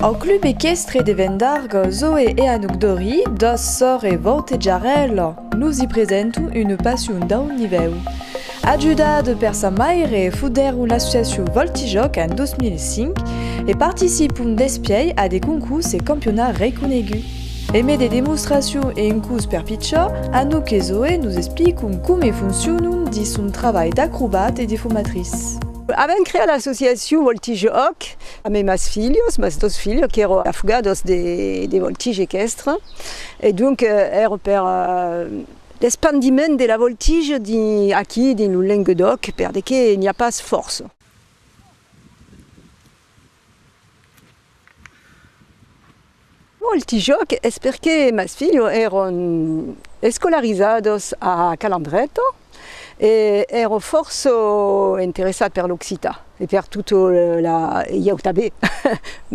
Au club equestre de Vendargo, Zoé e Anouk Dori, dos sòr e vautejarèla, nos i presento una passion dau nivèu. Ajudada per sa maire, fudèron l'associacion Voltijoc en 2005 e participon despièi a de concurs e campionats reconeguts. E me de demostracion e un cus per pichó, Anouk e Zoé nos explicon come foncionon dins son trabalh d'acrobat e de fomatrice. Avèm creat l'associacion Voltige Òc amb es mas filhos, mas dos filhos qu'èron afogados de voltige equestre e donc èra per l'espandiment de la voltige aquí dins lo Lenguedoc per de qué n'i a pas fòrça. Molti jòc es perqué mas filhos èron escolarizados a Calandreto e èro fòrça interessat per l'occitan e per tot la e ieu tanben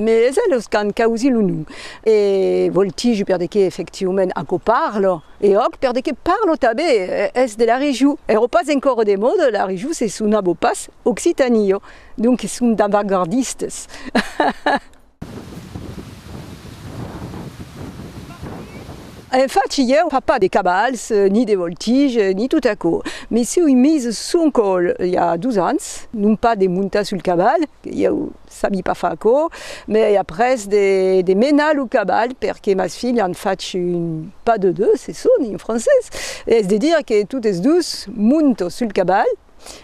mes es elos qu'an causí lo nom e voltigi perdequé efectivament aquò parlo e òc perdequé parlo tanben es de la region, èro pas encòra de moda la region se sonava pas Occitanio. Donques son d'avagardistes. En fach ieu pas pas de cabals, ni de voltiges, ni tot aquò. Me siui mis son còl i a dos ans, non pas de montar sul cabal, que ieu sabi pas far aquò, me après de de menar lo cabal perque mas filhs an fach un pas de deux, se soni en francés, es de dire que totes dos monto sul cabal,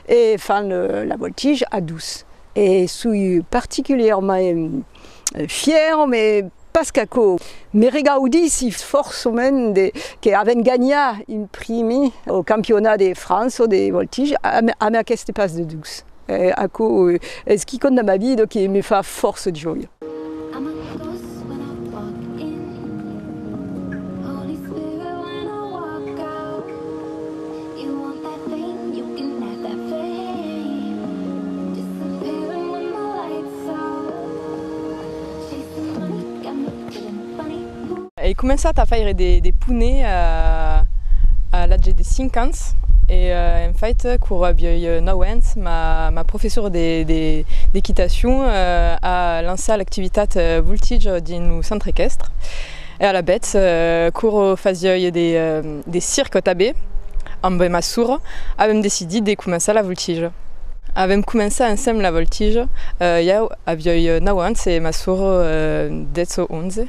e fan la voltige a dos e soi particulièrement fièr me pas qu'aquò me regaudissi fòrçament de que avèn ganha un primi au campionat de França de voltige amb aqueste pas de dos e aquò es quicòm da ma vida que me fa fòrça jòia. Ai començat a faire de pune a l'atge de 5 ans e en fait quora avioi 9 ans ma professora d'equitacion a lançat l'activitat Voltige dins lo centre equestre E alavetz, quoro fasioi de circo tabé, ambe ma sora avem decidit de començar la voltigia. Avem començat ensemble la voltigia, iau avioi nau ans e ma sora dètz o onze.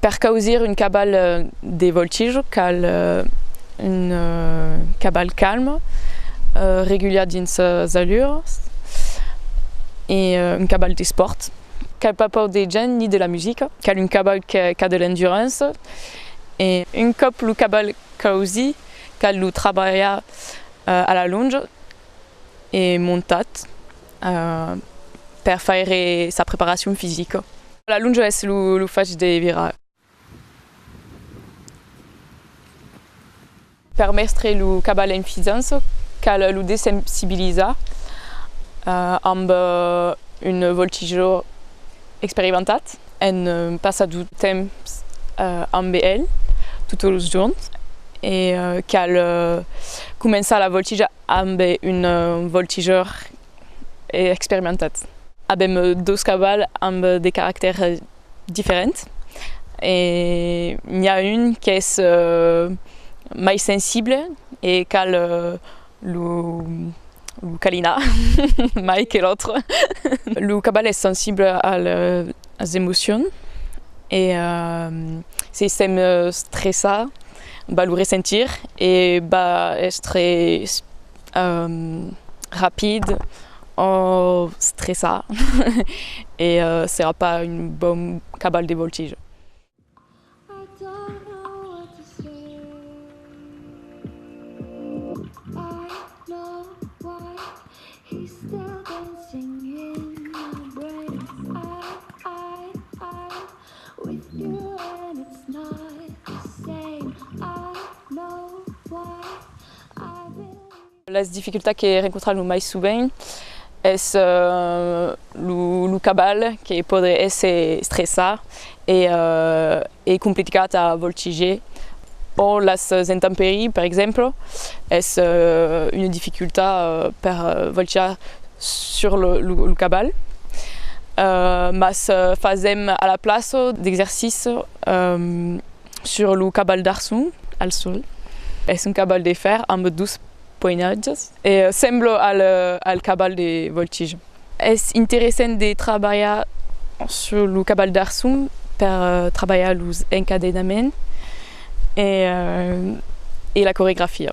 Per causir un cabal de voltijo cal un cabal calm, regular dins sas alures e un cabal d'espòrt. Cal pas paur de gents ni de la musica. Cal un cabal qu'a de l'endurance e. Un còp lo cabal causi cal lo trabalhar a la lonja e montat. per faire sa preparacion fisica. La lonja es lo fach de virar. Per mestre lo caval en fidança cal lo desensibilizar amb un voltigeur experimentat en passar du temps amb el totes los jorns e cal començar la voltija Amb un voltigeur experimentat. Avèm dos cavals amb de caractèrs diferents. N'i a un qu'es mai sensible e cal lo calinar mai que l'autre. Lo caval es sensible a las emocions e se sent stressat. va lo ressentir e va èstre rapid o stressat e serà pas un bon caval de voltijo. Las dificultats que rencontram lo mai sovent es lo caval que podre èsser estressat e complicat a voltiger o las intemperies per exemple es una dificultat per voltijar sur lo cabal, mas fasèm a la plaça d'exercici sur lo cabal d'Arçon, al sòl. Es un cabal de fèrre amb dos poenatges e sembla al cabal de voltija. Es interessent de trabalhar sur lo cabal d'Arçon per trabalhar los encadenaments e la coregrafia.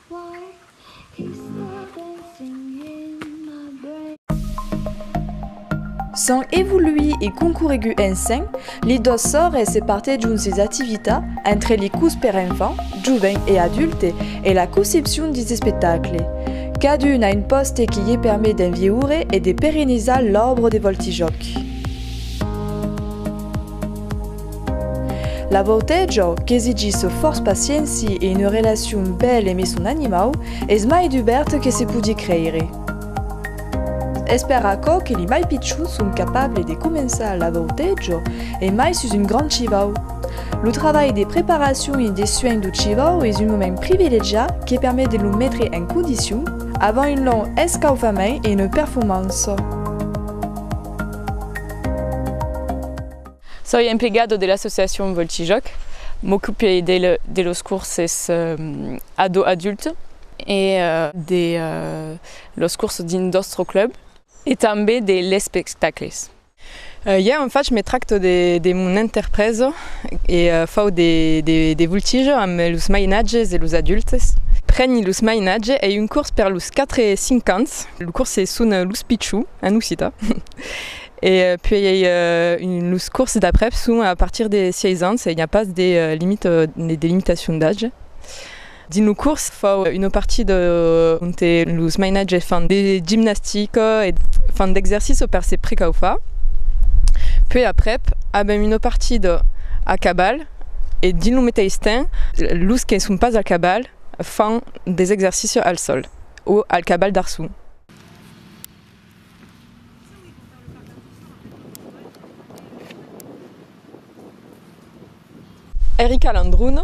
S'an evoluit e concorregut ensenh li dos sòrres e partejon sis activitats entre li curs per enfants, jovent e adulte e la concepcion dis espectacle. Cadun a un pòste que ie permet d'envieure e de perenizar l'òbra de Voltijòc. La vòute jo qu'esigisse fòrç pacienci e une relacion bèl eme son animau es mai dubèrt que se podie creire. Es per aquò que li mai pichons son capable de començar la vòute jo e mai sus un grand chivau. Lo travalh de preparacion e de suenh do chivau es un moment privilegiat que permet de lo metre en condicion avant un long escaufament e une performança. Soi emplegado de l'associacion Voltijòc, m'ocupe de los curses ado-adulte e de los curses dins nòstre club e tanben de l'espectacles. Ja en fach, me tracto de mon enterpresa e fau de voltijo amb los mainatges e los adultes. Preni los mainatges, ei un curs per los 4 e 5 ans, los curses son los pichons en occitan E puèi ei los cors d'aprèp son a partir de 6 ans e i a pas de limitacion d'atge. Dins lo cors fau una partida onte los mainatges fan de gimnastica e fan d'exercici per se precaufar. Puèi aprèp avèm una partida a caval e dins lo meteis temps los que son pas a caval fan des exercicis al sòl o al caval d'arçon. Erica Landrun,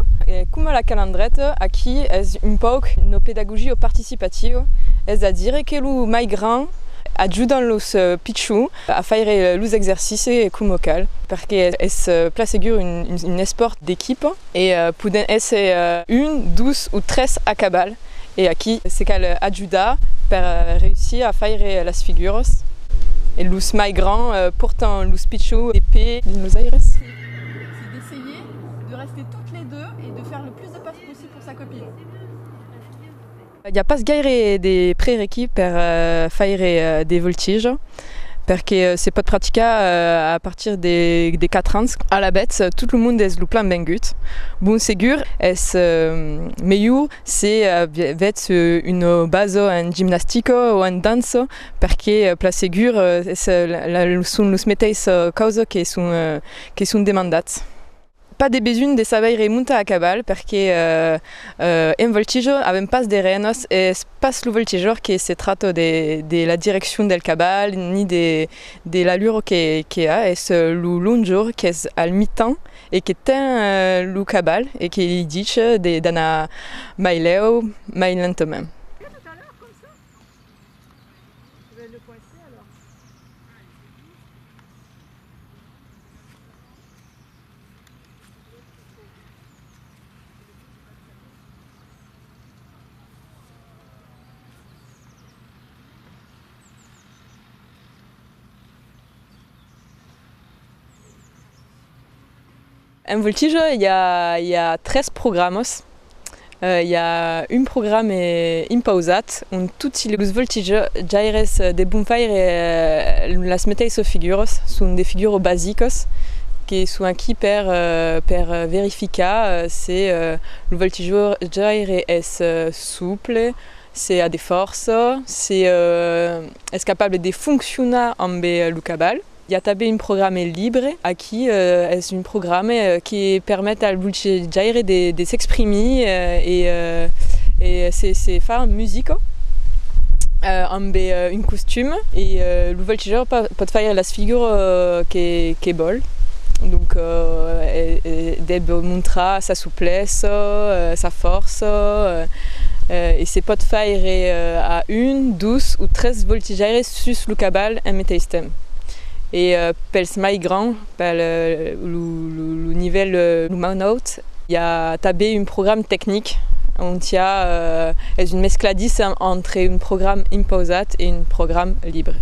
coma la calandreta, aquí es un pauc una pedagogia participativa, es a dire que los mai grands ajudan los pichons a faire los exercicis coma cal, perque es plan segur un espòrt d'equipa e poden èsser un, dos o tres a cabal. E a qui se cal ajudar per reüssir a faire las figuras? Los mai grands pòrtan los pichons de pè dins los aires? C'est d'essayer de rester toutes les deux et de faire le plus de passes possible pour sa copine. I a pas gaire de prerequis per faire de voltiges. perque se pòt practicar a partir de 4 ans. Alavetz, tot lo monde es lo plan bengut. Bon segur es melhor se avetz un bazo en gimnastico o en danço perque plan segur son los meteis causes que son demandats. Pas de besonh de sabeire montar a caval perque en voltijo avèm pas de renos e es pas lo voltijor que se trata de la direccion del caval ni de l'allura que a, es lo longor qu'es al mitan e que ten lo caval e que li dice d'anar mai lèu, mai lentament. En Voltijo i a tres programas i a un programe impausat ont toti los voltijaires de bon faire las meteissas figuras, son de figuras basicas que son aquí per verificar se lo voltijaire es souple, se a de fòrça, se es capable de foncionar ambe lo caval. I a tanben un programe libre, aquí es un programe que permet al bolchejaire de s'exprimir e se far un musico amb un costum e lo bolchejaire pòt faire las figures que vòl, donc deb montrar sa souplessa, sa fòrça e se pòt faire a un, dos o tres bolchejaires. sus lo cabal en meteis temps e pels mai grands pel lo nivèl lo mau naut i a tanben un program tecnic ont i a es un mescladissa entre un program impausat e un program libre.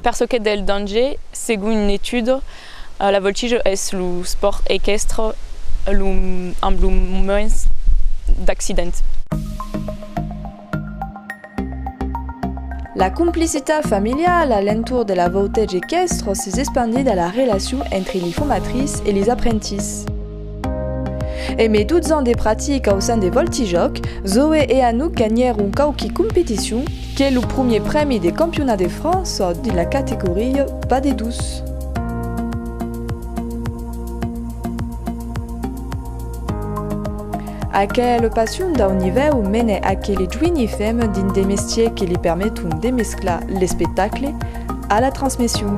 Per çò qu'es del danger, segon una etuda, la voltijo es lo spòrt equestre amb lo mens d'accidents. La complicitat familiala a l'entorn de la voltege equestre s'es espandida a la relacion entre li formatris e lis aprentits. E me dutsan de pratica au sen de Voltijòc, Zoé e Anouk ganhèron quauqui competicion, que lo promier prèmi de campiona de França dins la categoria pas de dus. Aquela passion dau nivèu menè aquele joini fem dins de mestiers que li permeton de mesclar l'espectacle a la transmission.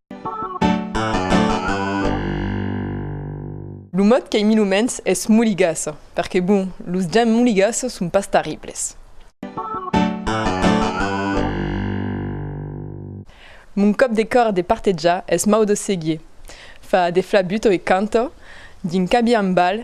Lo mot qu'ei mi lo mens es moligassa, perque bon, los gens moligassa son pas tarribles. Mon còp de còr de partejar es mau de seguir. Fa de flabuto e canta, dins cabiambal